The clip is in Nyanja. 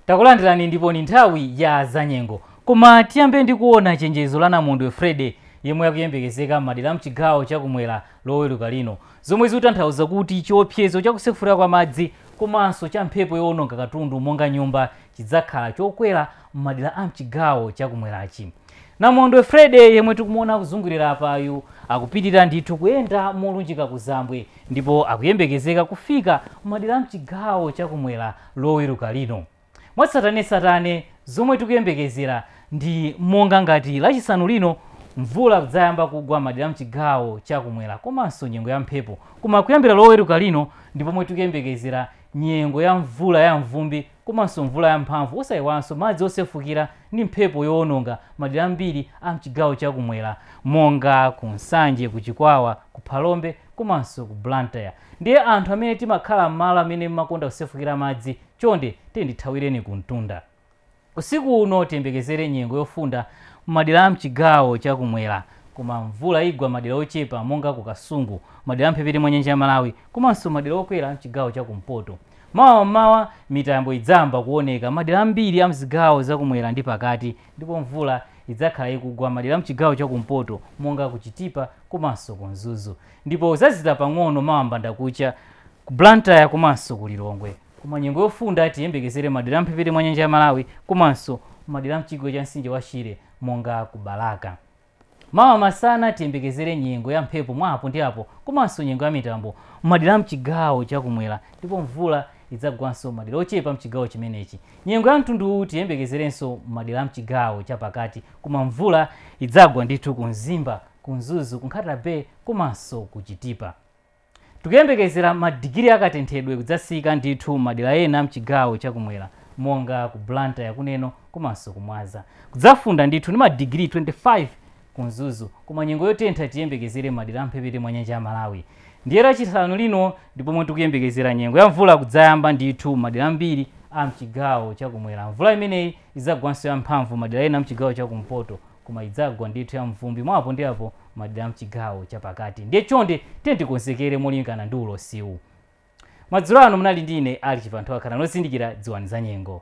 takulandirani ndipo ni nthawi ya zanyengo koma tiyambe ndi kuona chenjezo la namondwe Freddy yemwe akuyembekezeka m'madera a mchigawo chakumwera loweruka lino zomwe zikutanthauza kuti chiopsezo chakusefukira kwa madzi komanso cha mphepo yowononga katundu monga nyumba chidzakhala chokwera m'madera a mchigawo cha kumwerachi. Namondwe Freddy yemwe tikumuona akuzungulira apayu akupitirira ndithu kuyenda molunjika kuzambwe ndipo akuyembekezeka kufika m'madera a mchigawo cha kumwera loweruka lino. Mwatsatanetsatane zomwe tikuyembekezera ndi monga ngati lachisanu lino mvula kudzayamba kugwa m'madera a mchigawo cha kumwera komanso nyengo ya mphepo. Koma kuyambira loweruka lino ndi pomwe tikuyembekezera nyengo ya mvula ya mvumbi komanso mvula yamphamvu osaiwalanso madzi osefukira ndi mphepo yowononga madera ambiri a mchigawo cha kumwera monga ku Nsanje, ku Chikwawa, ku Phalombe komanso ku Blantyre. Ndiye anthu amene timakhala mmalo amene mmakonda kusefukira madzi chonde tiyeni tithawireni kumtunda. Usiku uno tiyembekezere nyengo yofunda mmadera a mchigawo cha kumwera koma mvula igwa madera ochepa monga ku Kasungu, madera a mphepete mwa nyanja ya Malawi komanso madera okwera a mchigawo cha kumpoto. Mawa m'mawa, mitambo idzayamba kuoneka madera ambiri a m'zigawo za kumwera ndi pakati ndipo mvula idzakhala ikugwa madera a m'chigawo cha kumpoto monga ku Chitipa komanso ku Mzuzu ndipo udzazizira pang'ono mawa mbandakucha ku Blantyre komanso ku Lilongwe. Koma nyengo yofunda tiyembekezere madera a m'mphepete mwa nyanja ya Malawi komanso madera a m'chigwa cha mtsinje wa Shire monga ku Balaka. Mawa masana tiyembekezere nyengo ya mphepo mwa apo ndi apo komanso nyengo ya mitambo m'madera a m'chigawo cha kumwera ndipo mvula idzagwanso m'madera ochepa m'chigawo chimenechi. Nyengo ya mtundu uwu tiyembekezerenso m'madera a m'chigawo cha pakati koma mvula idzagwa ndithu ku Mzimba, ku Mzuzu, ku Nkhata Bay komanso ku Chitipa. Tikuyembekezera ma digiri a katenthedwe kudzatsika ndithu m'madera ena a mchigawo cha kumwera monga ku Blantyre ku Neno komanso ku Mwanza. Kudzafunda ndithu ndi ma digiri 25 ku Mzuzu koma nyengo yotentha tiyembekezere m'madera a mphepete mwa nyanja ya Malawi. Ndiye lachisanu lino ndi pomwe tikuyembekezera nyengo ya mvula kudzayamba ndithu m'madera ambiri a mchigawo cha kumwera. Mvula imeneyi idzagwanso ya mphamvu m'madera ena a mchigawo cha kumpoto. koma idzagwa ndithu ya mvumbi mwa apo ndi apo madera a mchigawo chapakati ndiye chonde tiyeni tikonzekere molingana ndi ulosiwu madzulo ano munali ndi ine Alick Chibanthowa khalani ozindikira dziwani za nyengo